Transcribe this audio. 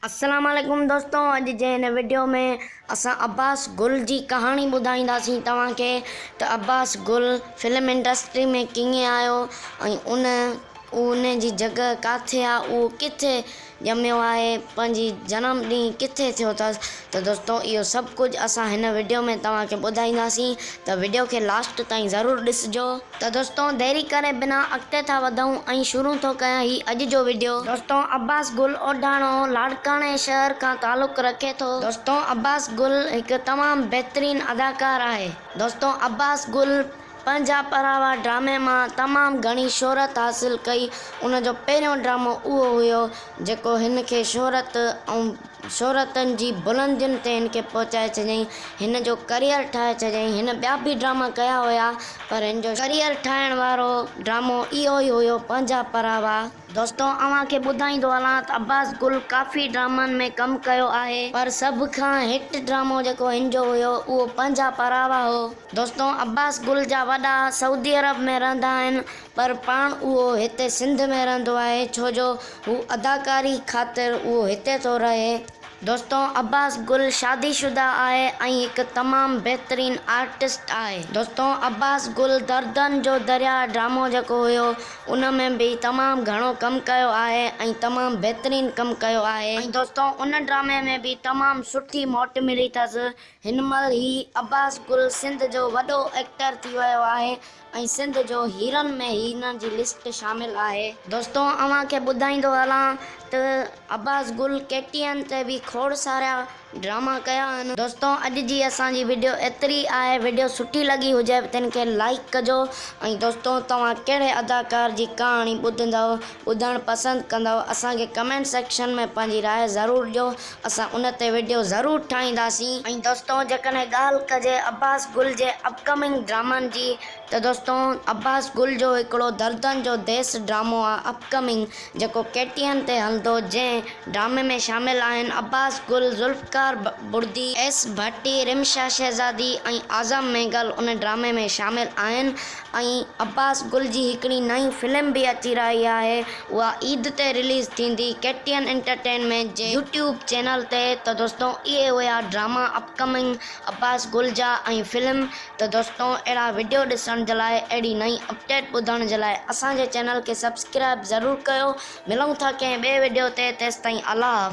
السلام عليڪم دوستو اڄ جي هن وڊيو ۾ اسان عباس گل جي ڪهاڻي ٻڌائينداسين توهان کي ته عباس گل فلم انڊسٽري ۾ ڪيئن آيو ۽ ان ان جي جڳهه ڪاٿي آ اهو ڪٿي ڄميو آهي پنهنجي جنم ڏينهن ڪٿي ٿيو اٿس ته دوستو اهو سڀ ڪجهه اسان هن وڊيو ۾ توهان کي ٻڌائينداسين ته وڊيو کي لاسٽ تائين ضرور ڏسجو ته دوستو ديري ڪري بنا اڳتي ٿا وڌون ۽ شروع ٿو ڪيان هي اڄ جو وڊيو. دوستو عباس گل اوڍاڻو لاڙڪاڻي شهر کان تعلق رکي ٿو. دوستو عباس گل هڪ تمام بهترين اداڪار آهي. دوستو عباس گل پنهنجا پراوا ڊرامي مان تمام گهڻي شهرت حاصل ڪئي ان جو پهريون ڊرامو اهو هيو جيڪو هن کي شهرت ۽. شهرتن جي بلندين تي هن کي پهچائي ڇڏيائين. هن جو ڪريئر ٺاهي ڇڏيائين. هن ٻيا به ڊراما ڪيا هيا پر هن جو ڪريئر ٺاهڻ وارو ڊرامو اهو ئي هيو پنهنجا پراوا. دوستو اوهان کي ٻڌائيندو هلان ته عباس گل ڪافي ڊرامن ۾ ڪم ڪيو آهي پر سڀ کان هٽ ڊرامو جيڪو هن جو هيو اهو پنهنجا پراوا هو. دوستو عباس گل جا وڏا سعودي عرب ۾ رهندا آهن پر پاڻ اهو هتي سنڌ ۾ رهندو آهي ڇو جو هو اداڪاري خاطر اهو هتي ٿو رهي. دوستو عباس گل شادي شده آهي ۽ هڪ تمام بهترين آرٽسٽ آهي. دوستو عباس گل دردن جو درياء ڊرامو جيڪو هيو ان ۾ به تمام گهڻو ڪم ڪيو آهي ۽ تمام بهترين ڪم ڪيو آهي ۽ دوستو ان ڊرامي ۾ به تمام سٺي موٽ ملي اٿس هن مهل هي عباس گل سنڌ جو وڏو ايڪٽر ٿي ويو آهي ۽ سنڌ جو هيرن ۾ هن جي لسٽ شامل آهي. دوستو اوهان کي ٻڌائيندو هلان ته عباس گل ڪي ٽي اين تي به کوڙ سارا ڊراما ڪيا آهن. دوستو اڄ جي اسان جي وڊيو ايتري آهي وڊيو سٺي لڳي هجي تن کي لائيڪ ڪجو ۽ دوستو توهان ڪهڙي اداڪار جي ڪهاڻي ٻڌندؤ ٻڌڻ پسند ڪندؤ اسان کي ڪمينٽ سيڪشن ۾ پنهنجي راء ضرور ڏيو اسان ان تي وڊيو ضرور ٺاهينداسين. ۽ دوستو جيڪڏهن ڳالهه ڪجي عباس گل جي اپ ڪمنگ ڊرامن جي ته دوستو عباس گل جو هڪڙو دردن جو ديس ڊرامو آ اپ ڪمنگ جيڪو ڪي ٽي اين تي هلندو جنهن ڊرامي ۾ شامل آهن عباس گل، ذوالفقار بڙدي، ايس ڀٽي، رمشا شهزادي ۽ اعظم مينگل ان ڊرامي ۾ شامل آهن. ۽ عباس گل جي هڪڙي نئين فلم به اچي رهي آهي اها عيد تي رليز ٿيندي ڪي ٽي اين انٽرٽينمينٽ جي يوٽيوب چينل تي ته دوستو اهي هيا ڊراما اپ ڪمنگ عباس گل جا ۽ فلم ته دوستو اهڙا وڊيو ڏسڻ جي لاء اهڙي نئين اپڊيٽ ٻڌڻ جي لاء اسان جي چينل کي سبسڪرائب ضرور ڪيو ملون ٿا ڪنهن ٻئي وڊيو تي تيستائين الله حافظ.